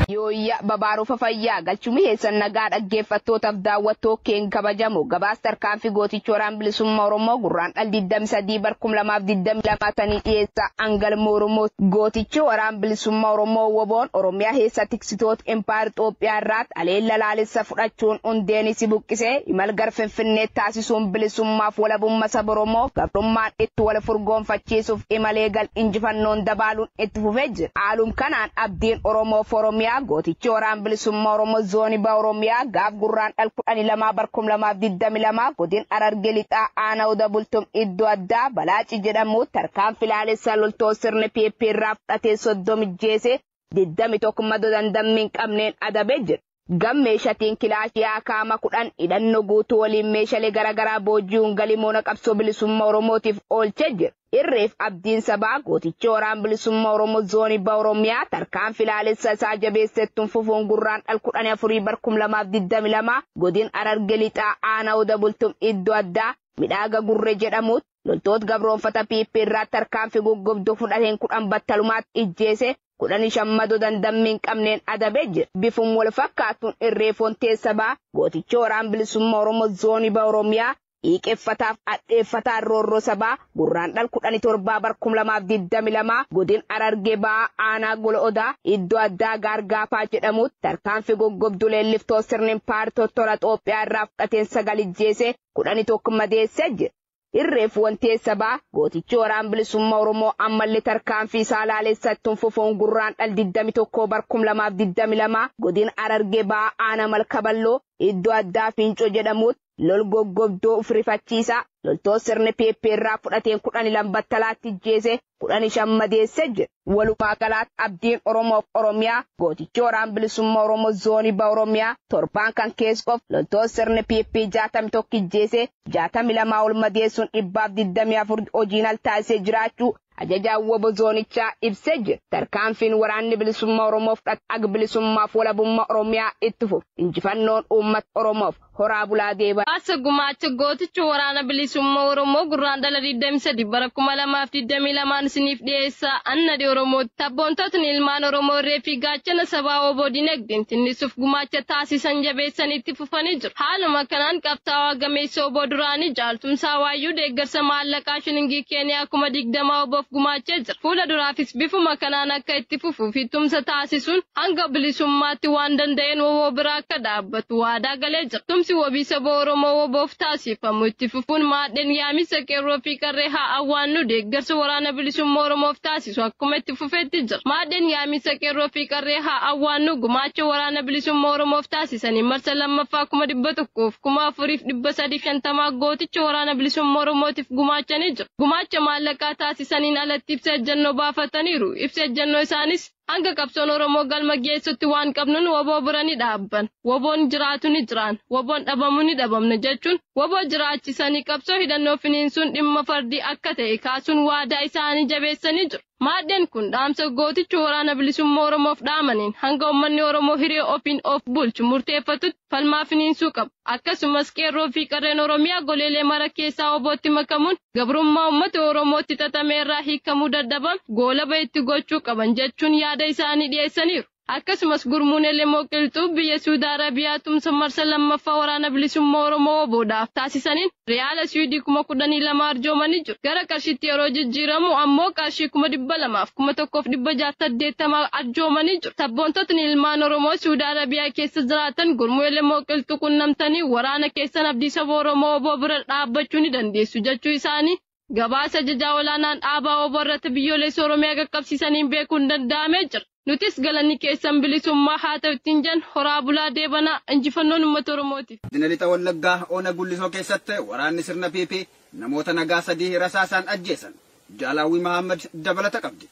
Yooyya babaarufa fayyaa galchumi heessan nagaa dhaggeeffattootaaf daawwattoo keen kabajamu gabaas tarkaanfii gootichi waraan bilisummaa Oromoo gurraan dhal 23 bar 2022 tanii dhiyeessa angalma Oromoo gootichi waraan bilisummaa Oromoo woboon Oromiyaa heessa Shororkeessitoota Empayera Xoophiyaa irraatti haleella laalessa fudhachuun hundeen isi buqqisee imal gar Finfinnee taasisuun bilisummaaf walabumma saba Oromoo gabrummaan itti wal furgoonfachiisuuf imal eegal injifannoon dabaaluun itti fufee jira. Haalum kanaan abdiin Oromoo fi Oromiyaa gootichi Waraan Bilisumma Oromoo Zooni Baha Oromiyaa gaaf Gurraandhal 12 bar 2022 godin Hararge Lixaa Aana Oda Bultum iddo addaa Balaaci jedhamuutti tarkaanfi laalessa loltoota sirni PP irraa fudhateen 30 ijjeesee 21 mado dandammi hin qabneen adabe jira. Gam meeshatiin kilaashii akaama 10 hidhanno guutuu waliin meeshalee garagaraa booji'uun galii moona qabsoo bilisumma Oromootiif oolche jira. Irreef abdiin sabaa gootichi Waraan Bilisumma Oromoo Zooni Baha Oromiyaa tarkaanfi laalessa isaa jabeesse ittun fufuun Gurraandhal 10 4 bar 2022 godin Hararge Lixaa Aana Oda Bultum iddo addaa Midhaaga Gurre jedhamuutti loltoota gabroonfata PP irraa tarkaanfi guggubdu fudhateen 10 battalumaatti ijjeese, 15 mado dandammi hin qabneen adabe jira. Bifum wal fakkaatuun Irree Fontee Sabaa, gooticha Waraan Bilisumma Oromo Zooni Baha Oromiyaa, dhiiqeffataaf adheeffataan roorroo sabaa, Gurraandhal 17 bar 2022 godin Harargee Bahaa aanaa Gola Odaa iddo addaa Gaar Gaafaa jedhamuutti tarkaanfi guggubdu leelliftoota sirni Impaayera Tottola Xoophiyaa irraa fudhateen 9 ijjeese, 11 madeesse jira. Irreef Wantiee Sabaa, Gootichi Waraan Bilisumma Oromoo ammalle tarkaanfii isaa laalessa ittun fufuun Gurraandhal 21 bar 2022 Godina Harargee Bahaa Aana Malka Balloo iddo addaa Fiincoo jedhamuutt lol goggobduu fi rifachiisaa loltoot sirni PP irraa fudhateen 12 battalaatti ijjeesee kudhanii shan madeesse jira. Walumaa galaatti abdiin Oromoof Oromiyaa gootichi waraan bilisumma Oromoo zoonii ba Oromiyaa torbaan kan kees qof loltoota sirni PP 61 ijjeese 62 ol madeessuun dhibbaaf 24 hojiin al taasisee jiraachuu ajajaan wbo zoonichaa ibsee jira. Tarkaanfiin waraanni bilisumma Oromoo fudhate ag bilisummaaf walabumma Oromiyaa itti fufu injifannoon uummata Oromoof. Horaa bulaa deebaa. Haasa gumaacha gooticha Waraana Bilisummaa Oromoo Gurraandhala 23 bara 2022n isiniif dhiyeessa. An Nadhii Oromooti. Sabboontootni ilmaan Oromoo irree fi gaachana sabaa wbo dinagdeen tinnisuuf gumaacha taasisan jabeessanii itti fufanii jiru. Haaluma kanaan qabsaawaa gameessa wbo duraanii Jaal Tumsaa Waayyuu deeggarsa maallaqaa shilingii Keeniyaa kuma 20 wbof gumaachee jira. Fuula duraafis bifuma kanaan akka itti fufuu fi tumsa taasisuun hanga bilisummaatti waan danda'een wbo bira akka dhaabbatu. dhaabbatu waadaa galee jira. Tumsi wabii saba Oromoo wbo-f taasiifamu itti fufuun maadheen yaamicha Qeerroo fi Qarree haa awwaannu deeggarsa Waraana Bilisummaa Oromoof taasisu akkuma itti fufeetti jira. Maadheen yaamicha Qeerroo fi Qarree haa awwaannu gumaacha Waraana Bilisummaa Oromoof taasisaniin marsa 2ffaa 100,000, 4,350 gooticha Waraana Bilisummaa Oromootiif gumaachanii jiru. Gumaacha maallaqaa taasisaniin alatti ibsa ejjennoo baafataniiru. Ibsi ejjennoo isaanis. Hanga qabsoon Oromoo galma geessutti waan qabnuun wbo bira ni dhaabban, wboon jiraatu ni jiraan, wboon dhabamu ni dhabamna jechuun wbo jiraachisanii qabsoo hidhannoo finiinsuun dhimma fardii akka ta'e kaasuun waadaa isaanii jabeessanii jiru. Maadheen kun dhaamsa gootichi Waraana Bilisummaa Oromoof dhaamaniin hanga ummanni Oromoo hiree ofiin of bulchu murteeffatutti, falmaa finiinsuu qaba. Akkasumas Qeerroo fi Qarreen Oromiyaa goleelee mara keessaa OBOtti makamuun gabrummaa uummata Oromootti xaxame irraa hiikamuu dadhabame goolaba itti gochuu qaban jechuun yaada isaanii dhiyeessaniiru. Akkasumas Gurmuun Elemoo Qilxuu biyya Suudi Arabiyaa tumsa marsa 2ffaa Waraana Bilisummaa Oromoo, wbo, dhaaf taasisaniin, Riyaala Siwiidii kuma kudhanii lama arjoomanii jiru. Gara qarshiitti yeroo jijjiiramu ammoo qarshii kuma dhibba lamaa fi kuma tokkoo fi dhibba jaha fi saddeettama arjoomanii jiru. Sabboontotni ilmaan Oromoo Siwudi Arabiyaa keessa jiraatan gurmuu Elemoo Qilxuu qunnamtanii waraana keessan abdii saba Oromoo wbo bira dhaabbachuu ni dandeessu jechuu isaanii Gabaasa Ajajaa Olaanaan Dhaabaa wbo irratti Biyyoolessa Oromiyaa qaqqabsiisaniin beekuun danda'amee jira. Nutis galanni keessan bilisummaa haa ta'u ittiin jenna. Horaa bulaa deebanaa. Injifannoon Ummata Oromootiif. Godina Lixa Wallaggaa Ona Gullisoo keessatti waraanni sirna PP namoota nagaa sadii rasaasaan ajjeesan. Jaal Hawwii Mahaammad dabalata qabdi.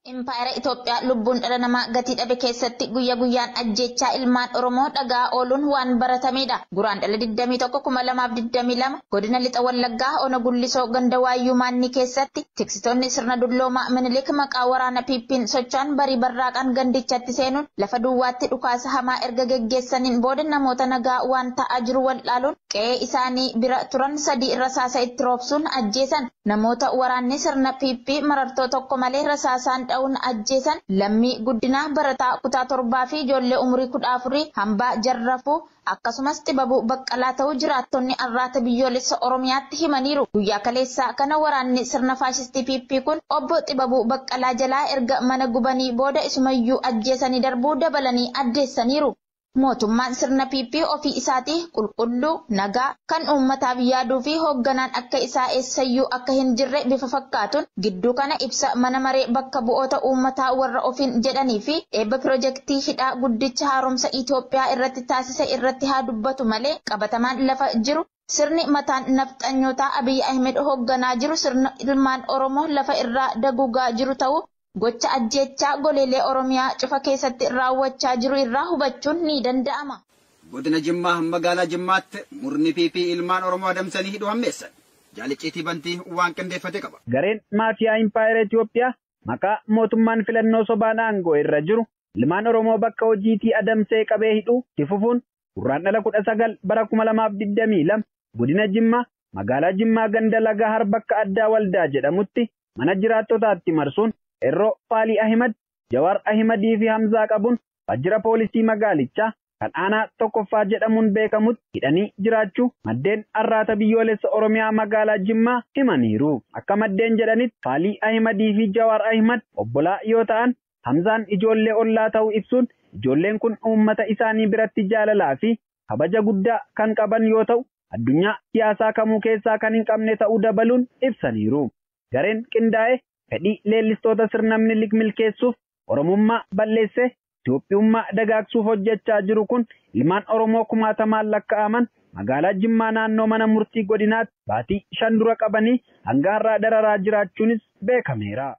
Impaayera Itoophiyaa lubbuun dhala namaa gatii dhabe keessatti guyya guyyaan ajjeechaa ilmaan Oromoo dhaga'aa ooluun waan baratameedha. Guraandhala 21,2022 Godina Lixa Wallaggaa Ona Gullisoo Ganda Waayyuu Maannii keessatti tiksitoonni sirna dulloomaa Minilik maqaa waraana PP'n socho'an barii barraaqaan gandichatti seenuun lafa duwwaatti dhukaasa hamaa erga geggeessaniin booda namoota nagaa waan ta'aa jiru wal'aaluun qe'ee isaanii bira turan 3 rasaasa itti roobsuun ajjeesan. namoota waraanni sirna PP marartoo tokko malee rasaasaan dha'uun ajjeesan Lammii Guddinaa barataa kutaa torbaa fi ijoollee umurii kudha afurii Hambaa Jarrafuu akkasumas Xibabuu Baqqalaa ta'uu jiraattonni Arraata Biyyoolessa Oromiyaatti himaniiru. Guyyaa kaleessaa kana waraanni sirna faashistii PP kun Obbo Xibabuu Baqqalaa jalaa erga mana gubanii booda isumayyuu ajjeesanii darbuu dabalanii addeessaniiru. Mootummaan sirna PP ofii isaatii qulqulluu, nagaa, kan uummataaf yaaduu fi hoogganaan akka isaa eessayyuu akka hin jirre bifa fakkaatuun gidduu kana ibsa Mana Maree Bakka Bu'oota Uummataa warra ofiin jedhanii fi eebba pirojektii hidhaa guddicha haaromsa Itoophiyaa irratti taasise irratti haa dubbatu malee qabatamaan lafa jiru Sirni mataan nafxanyootaa Abiy Ahimed hogganaa jiru sirna ilmaan Oromoo lafa irraa daguugaa jiru ta'uu gocha ajjeechaa goleelee Oromiyaa cufa keessatti raawwachaa jiru irraa hubachuun ni danda'ama. Godina Jimmaa magaalaa Jimmaatti murni PP ilmaan Oromoo adamsanii hidhuu hammeessan. Jaal Icciitii Bantii waan qindeeffate qaba. Gareen maafiyaa Impaayera Itoophiyaa maqaa mootummaan filannoo sobaan aangoo irra jiru ilmaan Oromoo bakka hojiitii adamsee qabee hidhuu itti fufuun Gurraandhala 19 bara 2022 Godina Jimmaa Magaalaa Jimmaa Ganda Lagahar bakka addaa Waldaa jedhamutti mana jiraattotaatti marsuun Qeerroo Faalii Ahimad, Jawaar Ahimad fi Hamzaa qabuun waajjira poolisii magaalichaa kan aanaa 1ffaa jedhamuun beekamutti hidhanii jiraachuu maddeen Arraata Biyyoolessa Oromiyaa Magaalaa Jimmaa himaniiru. Akka maddeen jedhanitti Faalii Ahimad fi Jawaar Ahimad obbolaa yoo ta'an Hamzaan ijoollee ollaa ta'u ibsuun, ijoolleen kun uummata isaanii biratti jaalalaa fi kabaja guddaa kan qaban yoo ta'u, addunyaa siyaasaa kamuu keessaa kan hin qabne ta'uu dabaluun ibsaniiru. Gareen qindaa'e fedhii leellistoota sirna Minilik milkeessuuf Oromummaa balleessee Itoophiyummaa dagaagsuuf hojjechaa jiru kun ilmaan Oromoo kumaatamaan lakka'aman magaalaa Jimmaa naannoo mana murtii godinaatti baatii shan dura qabanii hanga har'aa dararaa jiraachuunis beekameera.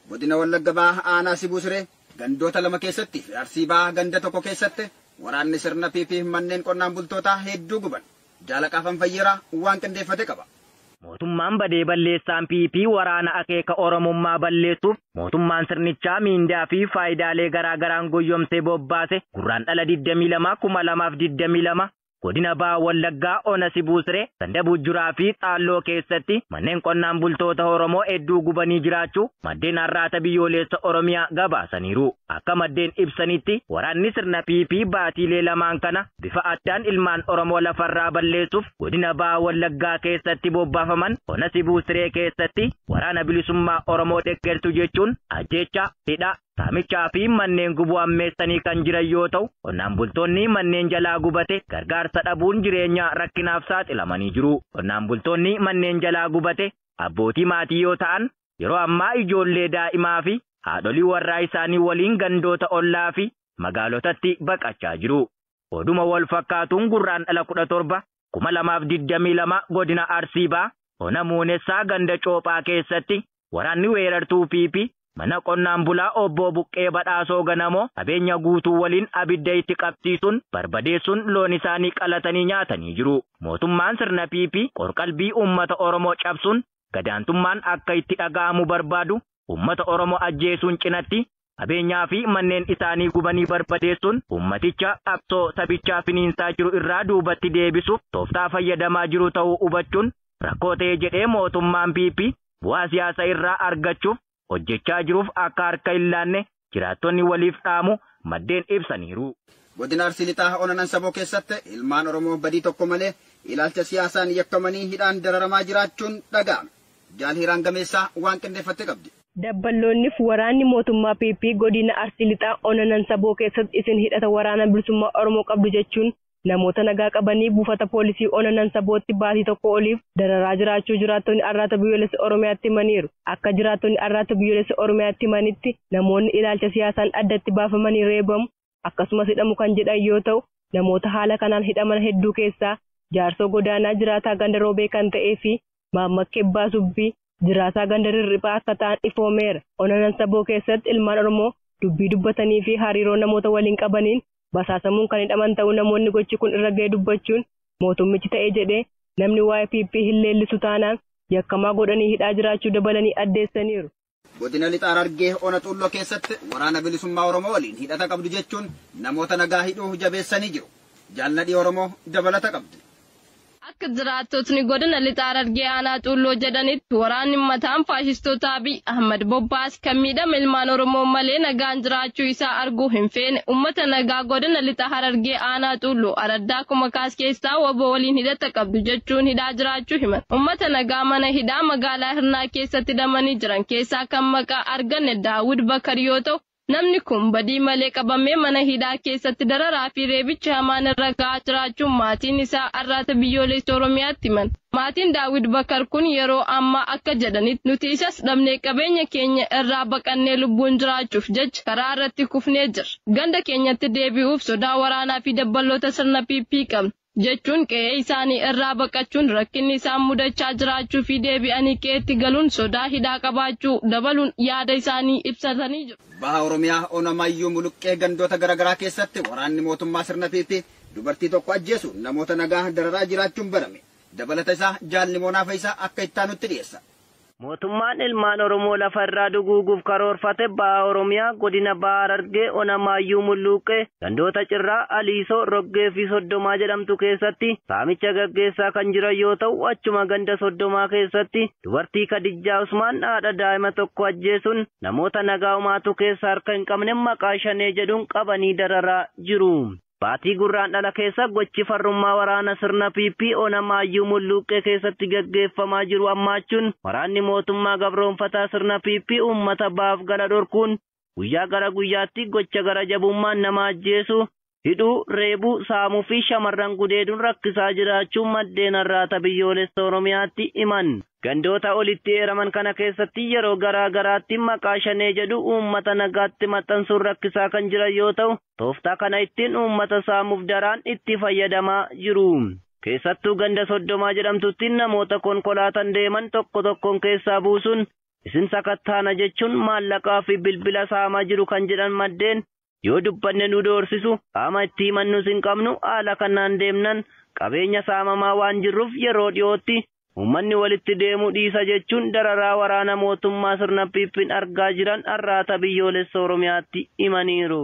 Godina Wallagga Bahaa Aanaa Sibuu Siree gandoota lama keessatti fi Arsii Bahaa ganda tokko keessatti waraanni sirna PP manneen qonnaan bultootaa hedduu guban. Jaalaqaa Fanfayyeeraa waan qindeeffate qaba. Mootummaan badee balleessaan PP waraana akeeka Oromummaa balleessuuf mootummaan sirnichaa miindaa fi faayidaalee garaa garaan goyyomsee bobbaase Gurraandhala 22, 2022 Godina Baha Wallaggaa Ona Sibuu Siree, Ganda Bujjuraa fi Xaalloo keessatti manneen qonnaan bultoota Oromoo hedduu gubanii jiraachuu maddeen Arraata Biyyooleessa Oromiyaa gabaasaniiru. Akka maddeen ibsanitti waraanni sirna PP baatiilee lamaan kana bifa addaan ilmaan Oromoo lafarraa balleessuuf Godina Baha Wallaggaa keessatti bobbaafaman Ona Sibuu Siree keessatti Waraana Bilisummaa Oromoo deggertu jechuun ajjeechaa, hidhaa, saamichaa fi manneen gubuu ammeessanii kan jiran yoo ta'u, qonnaan bultoonni manneen jalaa gubate gargaarsa dhabuun jireenya rakkinaaf saaxilamanii jiru. Qonnaan bultoonni manneen jalaa gubate abbootii maatii yoo ta'an, yeroo ammaa ijoollee daa'imaa fi haadholii warraa isaanii waliin gandoota ollaa fi magaalotatti baqachaa jiru. Oduma wal fakkaatuun Gurraandhala 17, 2022 godina Arsii Bahaa ona Muunessaa ganda Coophaa keessatti waraanni weerartuu PP mana qonnaan bulaa obboo Buqqee Badhaasoo Ganamoo qabeenya guutuu waliin abidda itti qabsiisuun barbadeessuun loon isaanii qalatanii nyaatanii jiru. Mootummaan sirna PP qorqalbii uummata Oromoo cabsuun gadaantummaan akka itti dhaga'amu barbaadu uummata Oromoo ajjeesuun cinatti qabeenyaa fi manneen isaanii gubanii barbadeessuun uummaticha qabsoo sabichaa finiinsaa jiru irraa duubatti deebisuuf tooftaa fayyadamaa jiru ta'uu hubachuun rakkoo ta'e jedhee mootummaan PP bu'aa siyaasa irraa argachuuf hojjechaa jiruuf akka harka hin laanne jiraattonni waliif dhaamu maddeen ibsaniiru. Godina Arsii Lixaa Ona Nansaboo keessatti ilmaan Oromoo badii tokko malee ilaalcha siyaasaan yakkamanii hidhaan dararamaa jiraachuun dhaga'ame. Jaal Hiiraan Gameessaa waan qindeeffatte qabdi. Dabballoonnif waraanni mootummaa PP godina Arsii Lixaa Ona Nansaboo keessatti isin hidhata Waraana Bilisummaa Oromoo qabdu jechuun namoota nagaa qabanii buufata poolisii ona Nansabootti baatii tokkoo oliif dararaa jiraachuu jiraattonni Arraata Biyyoolessa Oromiyaatti himaniiru. Akka jiraattonni Arraata Biyyoolessa Oromiyaatti himanitti namoonni ilaalcha siyaasaan addatti baafamanii reebamu akkasumas hidhamu kan jedhan yoo ta'u, namoota haala kanaan hidhaman hedduu keessaa Jaarsoo Godaanaa jiraataa ganda Roobee kan ta'ee fi Maammak Ebbaa Subbii, jiraataa ganda Rirriphaa akka ta'an ifoomeera. Ona Nansaboo keessatti ilmaan Oromoo dubbii dubbatanii fi hariiroo namoota waliin qabaniin basaasamuun kan hidhaman ta'uu namoonni gochi kun irra ga'e dubbachuun, mootummichi ta'e jedhee namni waa'ee PP hin leellisu taanaan yakkamaa godhanii hidhaa jiraachuu dabalanii addeessaniiru. Godina Lixa Harargee Ona Xuulloo keessatti Waraana Bilisummaa Oromoo waliin hidhata qabdu jechuun namoota nagaa hidhuu jabeessanii jiru. Jaal Nadhii Oromoo dabalata qabdi. Akka jiraattotni godina Lixa Harargee Aanaa Xuulloo jedhanitti waraanni ummataan faashistoota Abiy Ahmad bobbaase kan miidhama ilmaan Oromoo malee nagaan jiraachuu isaa arguu hin feene ummata nagaa godina Lixa Harargee Aanaa Xuulloo araddaa Kumakaas keessaa waboo waliin hidhata qabdu jechuun hidhaa jiraachuu himan. Ummata nagaa mana hidhaa magaalaa Hirnaa keessatti hidhamanii jiran keessaa kan maqaa arganne Daawud Bakar yoo ta'u, namni kun badii malee qabamee mana hidhaa keessatti dararaa fi reebichi hamaan irra ga'aa jiraachuu maatiin isaa Arraata Biyyooleessa Oromiyaatti himan. Maatiin Daawud Bakar kun yeroo ammaa akka jedhanitti nuti isas dhabnee qabeenya keenya irraa baqannee lubbuun jiraachuuf jecha karaa irratti kufnee jirra. Ganda keenyatti deebi'uuf sodaa waraanaa fi dabballoota sirna PP qabna. jechuun qe'ee isaanii irraa baqachuun rakkinni isaan mudachaa jiraachuu fi deebi'anii qe'eetti galuun sodaa hidhaa qabaachuu dabaluun yaada isaanii ibsatanii jiru. Baha Oromiyaa Ona Mayyuu Muluqqee gandoota garaagaraa keessatti waraanni mootummaa sirna PP dubartii tokko ajjeesuun namoota nagaa dararaa jiraachuun barame. Dabalata isaa Jaal Nimoonaa Fayisaa akka ittaanutti dhiyeessa. Mootummaan ilmaan Oromoo lafa irraa duguuguuf karoorfate Baha Oromiyaa Godina Baha Harargee Ona Maayyuu Mulluuqqee gandoota Cirraa, Aliisoo, Roggee fi Soddomaa jedhamtu keessatti saamicha gaggeessaa kan jiran yoo ta'u achuma ganda Soddomaa keessatti dubartii Kadijjaa Usmaan haadha daa'ima tokkoo ajjeesuun namoota nagaa homaatu keessa harka hin qabne maqaa Shanee jedhuun qabanii dararaa jiru. Baatii Gurraandhala keessa gochi farrummaa waraana sirna PP Onamaayyuu Mulluuqqee keessatti gaggeeffamaa jiru hammaachuun waraanni mootummaa gabroomfataa sirna PP uummata ba'aaf gala dhorkuun guyyaa gara guyyaatti gocha gara jabummaan nama ajjeesuu, hidhuu, reebuu, saamuu fi shamarran gudeeduun rakkisaa jiraachuu maddeen Arraata Biyyoolessa Oromiyaatti himan. Gandoota olitti eeraman kana keessatti yeroo garaa garaatti maqaa Shanee jedhu uummata nagaatti maxxansuun rakkisaa kan jiran yoo ta'u, tooftaa kana ittiin uummata saamuuf daraan itti fayyadamaa jiru. Keessattuu ganda Soddomaa jedhamtutti namoota konkolaatan deeman tokko tokkoon keessaa buusuun isin sakattaana jechuun maallaqaa fi bilbila saamaa jiru kan jedhan maddeen, yoo dubbanne nu doorsisu, qaama itti himannus hin qabnu, haala kanaan deemnan qabeenya saamamaa waan jirruuf yeroo dhiyootti uummanni walitti deemuu dhiisa jechuun dararaa waraana mootummaa sirna PP'n argaa jiran Arraata Biyyoolessa Oromiyaatti himaniiru.